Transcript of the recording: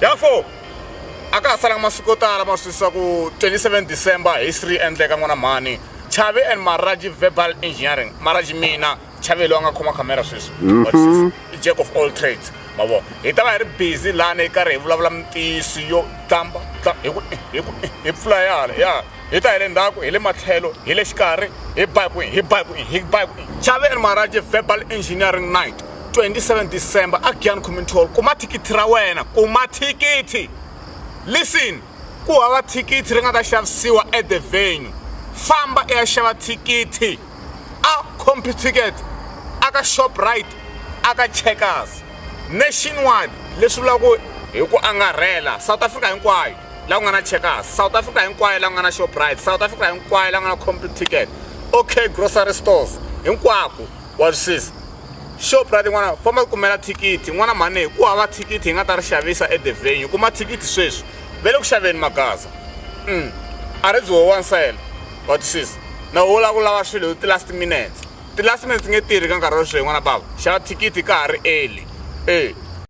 Therefore, a ka ha salanga masiku yo tala ma swisisa ku 27 December history endleka n'wana mhani Chavi and Maraji Verbal Engineering Maraji mina Chavi loyi a nga khoma camera sweswi mm-hmm. what is i jack of all trades ma vo hi ta va hi ri busy lana yi karhi hi vulavula mintiyiso yo tlamba hi ku hi ku hi pfula yala ya hi ta hi le ndzhaku hi le matlhelo hi le xikarhi hi ba hi kwihi hi ba hi kwihi hi ba hi kwihi chave and maraje verbal engineering night 27 december a giyan community hall kuma thikithi ra wena kuma thikithi listen ku hava thikithi ri nga ta xavisiwa at the venue famba i ya xava thikithi a compu ticket a ka shoprite a ka checkers nationwide leswi vulaka ku hi ku angarhela south africa hinkwayo la ku nga na checkers south africa hinkwayo la ku nga na shoprite south africa hinkwayo la ku nga na complete ticket okay grocery stores hinkwako wa swisisa shoprite n'wana famba ku kumela thikithi n'wana mhani ku hava thikithi hi nga ta ri xavisa edevenue kuma thikithi sweswi ve le ku xaveni magaza mm. a ri byi howansela wa twisisa na wo la ku lava swilo hi ti-last minutes ti-last minutes nge tirhi ka nkarhi wa sweswi n'wana bava xava thikithi ka ha ri eli e